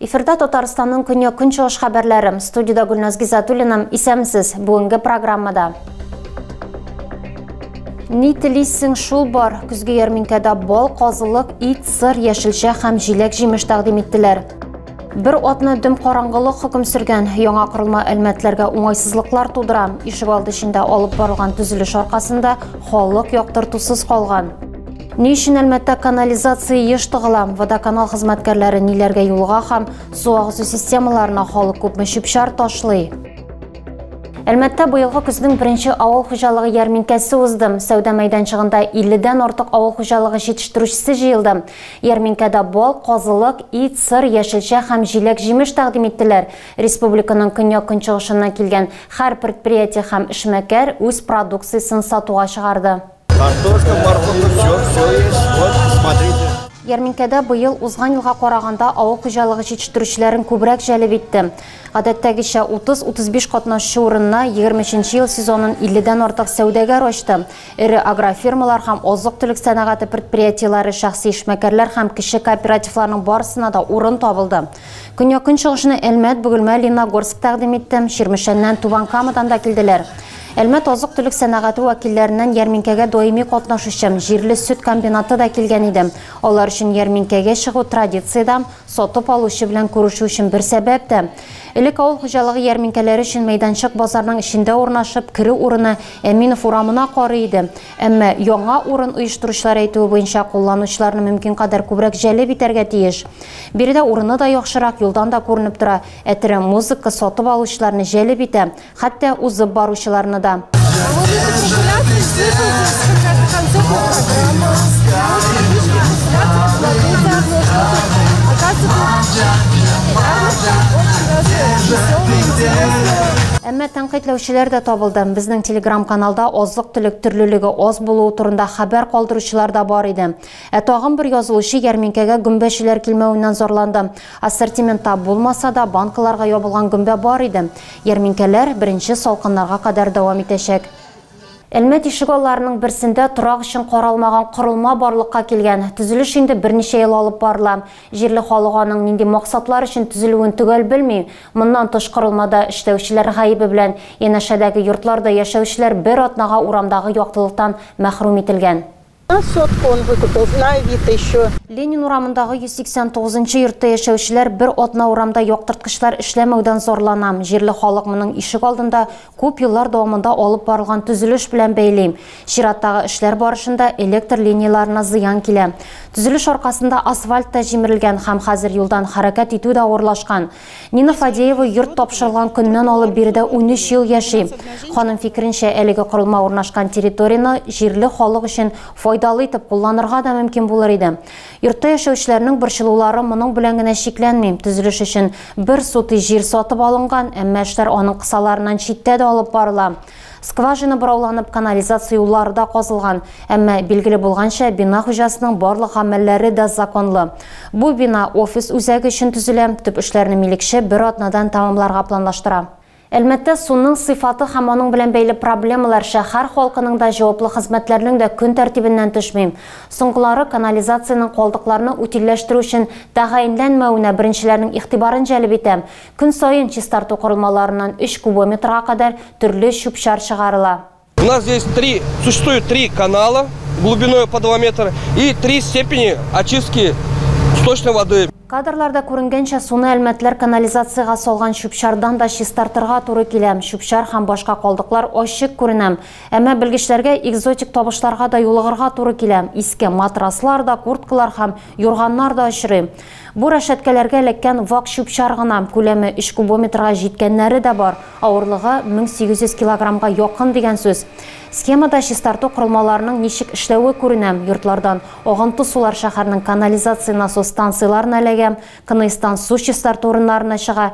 Эфирда Татарстанның көньяк көнчыгыш хәбәрләре. Студиядә Гөлназ Гизатуллина. Исәмсез. Бүгенге программада. Ни телисең шул бар. Көзге ярминкәдә бал, казылык, ит, сыр, яшелчә һәм җиләк-җимеш тәкъдим иттеләр. Бер атны дөм караңгылык хөкем сөргән яңа корылма әлмәтләргә уңайсызлыклар тудыра. Ишек алды эчендә алып барылган төзелеш аркасында халык яктыртусыз калган. Ни өчен Әлмәттә канализация еш тыгыла? Водоканал хезмәткәрләре ниләргә юлга һәм су агызу системаларына халык күпме чүп-чар ташлый? Әлмәттә быелгы көзнең беренче авыл хуҗалыгы ярминкәсе узды. Сәүдә мәйданчыгында 50 дән артык авыл хуҗалыгы җитештерүчесе җыелды. Ярминкәдә бал, казылык, ит, сыр, яшелчә һәм җиләк-җимеш тәкъдим иттеләр. Республиканың көньяк-көнчыгышыннан килгән һәр предприятие һәм эшмәкәр үз продукциясен сатуга чыгарды. Картошка, морковка, всё, всё есть, вот, смотрите. Ярминкәдә быел узган елга караганда авыл хуҗалыгы җитештерүчеләрен күбрәк җәлеп итте. Гадәттәгечә, 30-35 катнашучы урынына егерме өченче ел сезонын 50 дән артык сәүдәгәр ачты. Эре агрофирмалар һәм азык-төлек сәнәгате предприятиеләре, шәхси эшмәкәрләр һәм кече кооперативларның барысына да урын табылды. Көньяк-көнчыгышны Әлмәт, Бөгелмә, Лениногорск тәкъдим итте. Чирмешәннән, Түбән Камадан да килделәр. Әлмәт азык-төлек сәнәгате вәкилләреннән ярминкәгә даими катнашучы Җирле сөт комбинаты да килгән иде. Алар өчен ярминкәгә чыгу традициядә, Сатып алучы белән күрешү өчен бер сәбәп тә. Элек авыл хуҗалыгы ярминкәләре өчен мәйданчык базарның эчендә урнашып, керү урыны Әминов урамына карый иде. Әмма яңа урын оештыручылар әйтүе буенча, кулланучыларны мөмкин кадәр күбрәк җәлеп итәргә тиеш. Биредә урыны да яхшырак, юлдан да күренеп тора. Ә тере музыка сатып алучыларны җәлеп итә, Хәтта узып баручыларны да. Әмма тәнкыйтьләүчеләр дә табылды. Безнең телеграм-каналда азык-төлек төрлелеге аз булуы турында хәбәр калдыручылар да бар иде. Ә тагын бер язылучы ярминкәгә гөмбәчеләр килмәвеннән зарланды. Ассортиментта булмаса да, банкаларга ябылган гөмбә бар иде. Ярминкәләр беренче салкыннарга кадәр дәвам итәчәк. Әлмәт ишегалларының берсендә торак өчен каралмаган корылма барлыкка килгән. Төзелеш инде берничә ел алып барыла. Җирле халык аның нинди максатлар өчен төзелүен төгәл белми. Моннан тыш корылмада эшләүчеләр гаебе белән янәшәдәге йортларда яшәүчеләр бер атнага урамдагы яктылыктан мәхрүм ителгән. Ленин урамындагы 189 нчы йортта яшәүчеләр бер атна урамда яктырткычлар эшләмәүдән зарлана. Җирле халык моның ишек алдында күп еллар дәвамында алып барылган төзелеш белән бәйли. Чираттагы эшләр барышында электр линияләренә зыян килә. Төзелеш аркасында асфальт та җимерелгән һәм хәзер юлдан хәрәкәт итү дә авырлашкан. Нина Фадеева йорт тапшырылган көннән алып биредә 13 ел яши. Ханым фикеренчә, әлеге корылма урнашкан территорияне җирле халык өчен файдалы итеп кулланырга да мөмкин булыр иде. Йортта яшәүчеләрнең борчылулары моның белән генә чикләнми. Төзелеш өчен бер сутый җир сатып алынган, әмма эшләр аның кысаларыннан читтә дә алып барыла. Скважина борауланып, канализация юллары да казылган. Әмма, билгеле булганча, бина хуҗасының барлык гамәлләре дә законлы. Бу бина офис үзәге өчен төзелә, төп эшләрне милекче бер атнадан тәмамларга планлаштыра. Әлмәттә суның сыйфаты һәм аның белән бәйле проблемалар шәһәр халкының да, җаваплы хезмәтләрнең дә көн тәртибеннән төшми. Соңгылары канализациянең калдыкларны утильләштерү өчен тәгаенләнмәвенә беренчеләрнең игътибарын җәлеп итә. Көн саен чистарту корылмаларыннан өч кубометрга кадәр төрле чүп-чар чыгарыла. У нас здесь три, существует три канала глубиной по 2 метр и три степени очистки сточной воды. Кадрларда күренгәнчә, суны әлмәтләр канализациягә салган чүп-чардан да чистартырга туры килә. Чүп-чар һәм башка калдыклар ачык күренә. Әмма белгечләргә экзотик табышларга да юлыгырга туры килә. Иске матраслар да, курткалар һәм юрганнар да очрый. Бу рәшәткәләргә эләккән вак чүп-чар гына, күләме өч кубометрга җиткәннәре дә бар, авырлыгы 1800 килограммга якын дигән сүз. Схемада чистарту корылмаларының ничек эшләве күренә, йортлардан агынты сулар шәһәрнең канализация-насос станцияләренә эләгә, КНИСтан су чистарту урыннарына чыга,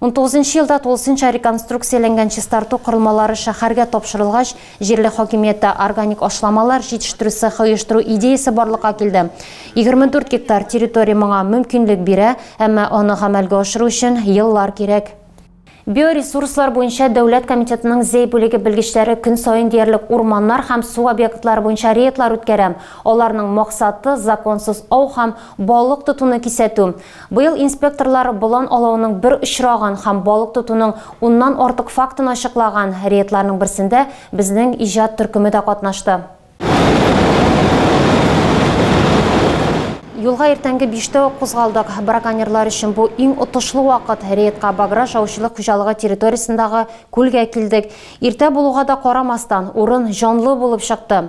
Унтугызынчы елда тулысынча реконструкцияләнгән чистарту корылмалары шәһәргә тапшырылгач, җирле хакимияттә органик ашламалар җитештерү цехы оештыру идеясе барлыкка килде. Егерме дүрт гектар территория моңа мөмкинлек бирә, әмма аны гамәлгә ашыру өчен еллар кирәк. Биоресурслар буенча дәүләт комитетының Зәй бүлеге белгечләре көн саен диярлек урманнар һәм су объектлары буенча рейдлар үткәрә. Аларның максаты, законсыз ау һәм балык тотуны кисәтү. Быел инспекторлар болан алауның бер очрагын һәм балык тотуның уннан артык фактын ачыклаган рейдларның берсендә безнең иҗат төркеме дә катнашты. Юлга иртәнге биштә үк кузгалдык. Браконьерлар өчен бу иң отышлы вакыт. Рейдка Баграж аучылык хуҗалыгы территориясендәге күлгә килдек. Иртә булуга да карамастан, урын җанлы булып чыкты.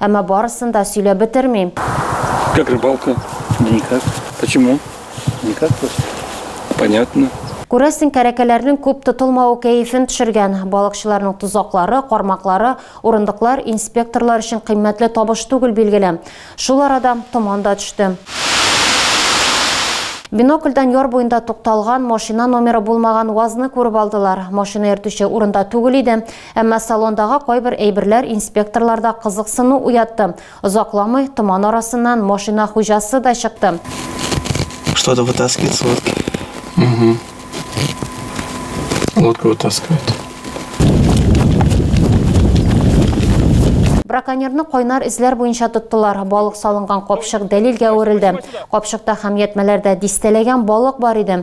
Әмма барысын да сөйләп бетермим. Как рыбалка? Да никак. Почему? Никак просто. Понятно. Күрәсең, кәрәкәләрнең күп тотылмавы кәефен төшергән. Балыкчыларның тозаклары, кармаклары, урындыклар инспекторлар өчен кыйммәтле табыш түгел, билгеле. Шул арада томан да төште. Бинокльдан яр буенда тукталган машина номеры булмаган УАЗны күреп алдылар. Машина йөртүче урында түгел иде. Әмма салондагы кайбер әйберләр инспекторларда кызыксыну уятты. Озакламый томан арасыннан машина хуҗасы да чыкты. Что-то вытаскивает с лодки. Угу. Лодку вытаскивает. Браконьерны кайнар эзләр буенча тоттылар. Балык салынган капчык дәлилгә әверелде. Капчыкта һәм ятмәләрдә дистәләгән балык бар иде.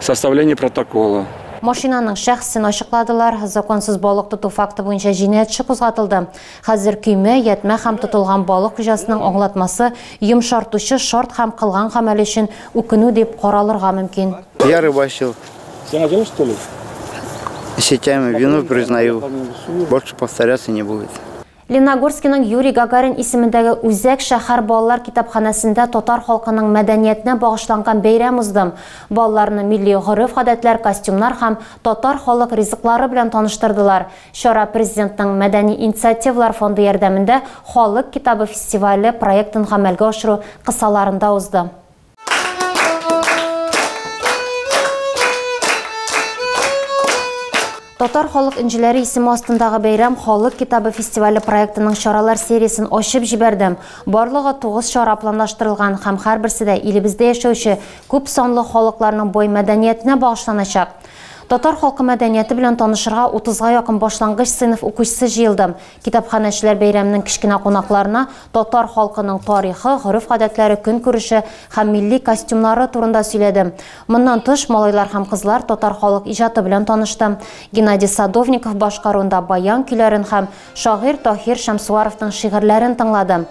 Составление протокола. Машинаның шәхесен ачыкладылар. Законсыз балык тоту факты буенча җинаять эше кузгатылды. Хәзер көймә, ятьмә һәм тотылган балык хуҗасының аңлатмасы йомшартучы шарт һәм кылган гамәле өчен үкенү дип каралырга мөмкин. Я рыбачил. Сиңа җылы что ли? Сетями вину признаю. Больше повторяться не будет. Леногорскиның Юрий Гагарин исемендәге Үзәк шәһәр балалар китапханәсендә татар халкының мәдәниятенә багышланган бәйрәм уздым. Балаларны милли гореф-гадәтләр, костюмнар һәм татар халык ризыклары белән таныштырдылар. Чара Президентның Мәдәни инициативалар фонды ярдәмендә Халык китабы фестивале проектын гамәлгә ашыру кысаларында узды. Татар халык инжеләре исеме астындагы бәйрәм халык китабы фестивале проектының чаралар сериясен ачып җибәрде. Барлыгы 9 чара планлаштырылган һәм һәрберсе дә илебездә яшәүче күп санлы халыкларның бой мәдәниятенә багышланачак. Татар халкы мәдәнияте белән танышырга 30-га якын башлангыч сыйныф укучысы җыелды. Китапханәчеләр бәйрәменең кечкенә кунакларына татар халкының тарихы, гореф-гадәтләре, көнкүреше һәм милли костюмнары турында сөйләде. Моннан тыш, малайлар һәм кызлар татар халык иҗаты белән танышты. Геннадий Садовников башкаруында баян көйләрен һәм шагыйрь Таһир Шәмсуаровның шигырьләрен тыңлады.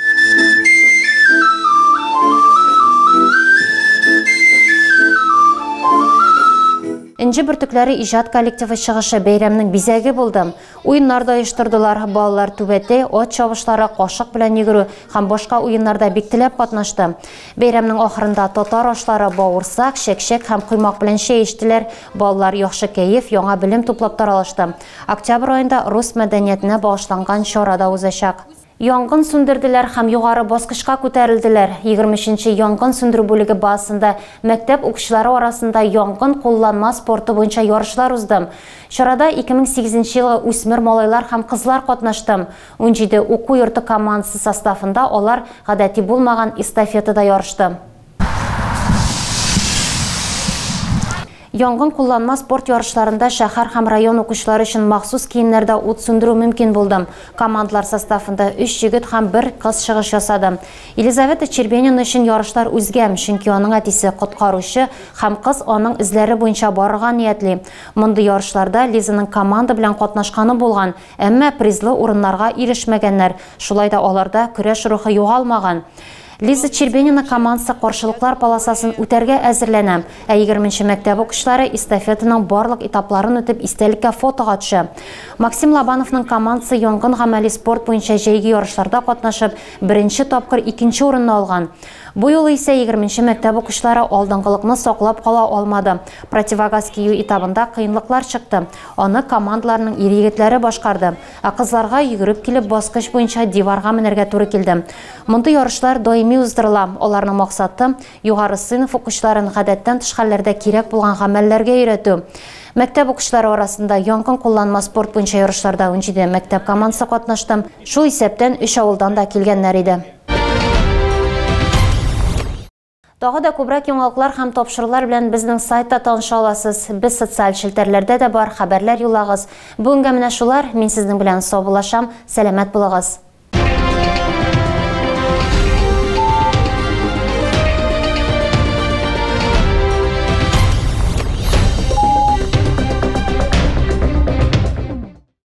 Энҗе бөртекләре иҗат коллективы чыгышы бәйрәмнең бизәге булды. Уеннар да оештырдылар. Балалар түбәтәй, ат чабышлары, кашык белән йөгерү һәм башка уеннарда бик теләп катнашты. Бәйрәмнең ахырында татар ашлары, бавырсак, чәкчәк һәм коймак белән чәй эчтеләр. Балалар яхшы кәеф, яңа белем туплап таралышты. Октябрь аенда рус мәдәниятенә багышланган чара да узачак. Янгын сүндерделәр һәм югары баскычка күтәрелделәр. Егерме өченче янгын сүндерү бүлеге базасында мәктәп укучылары арасында янгын кулланма спорты буенча ярышлар узды. Чарада ике мең сигезенче елгы үсмер малайлар һәм кызлар катнашты. Унҗиде уку йорты командасы составында алар гадәти булмаган эстафетада ярышты. Янгын кулланма спорт ярышларында шәһәр һәм район укучылары өчен махсус киемнәрдә ут сүндерү мөмкин булды. Командалар составында өч егет һәм бер кыз чыгыш ясады. Елизавета Чербенина өчен ярышлар үзгә, чөнки аның әтисе, коткаручы, һәм кыз аның эзләре буенча барырга ниятли. Мондый ярышларда Лизаның команда белән катнашканы булган, әмма призлы урыннарга ирешмәгәннәр, шулай да аларда көрәш рухы югалмаган. Лиза Чербенина командасы каршылыклар полосасын үтәргә әзерләнә, ә егерменче мәктәп укучылары эстафетаның барлык этапларын үтеп истәлеккә фотога төшә. Максим Лобановның командасы янгын гамәли спорт буенча җәйге ярышларда катнашып, беренче тапкыр икенче урынны алган. Бу юлы исә егерменче мәктәп укучылары алдынгылыкны саклап кала алмады. Противогаз кию этабында кыенлыклар чыкты. Аны командаларның ир-егетләре башкарды. Ә кызларга йөгереп килеп баскыч буенча диварга менәргә туры килде. Мондый ярышлар даими уздырыла, аларның максаты, югары сыйныф укучыларын гадәттән тыш хәлләрдә кирәк булган гамәлләргә өйрәтү. Мәктәп укучылары арасында янгын кулланма спорт буенча ярышларда унҗиде мәктәп командасы катнашты, шул исәптән өч авылдан да килгәннәр иде. Тагы да күбрәк яңалыклар һәм тапшырулар белән безнең сайтта таныша аласыз. Без социаль челтәрләрдә дә бар, хәбәрләр юллагыз. Бүгенгә менә шулар, мин сезнең белән саубуллашам, сәламәт булыгыз.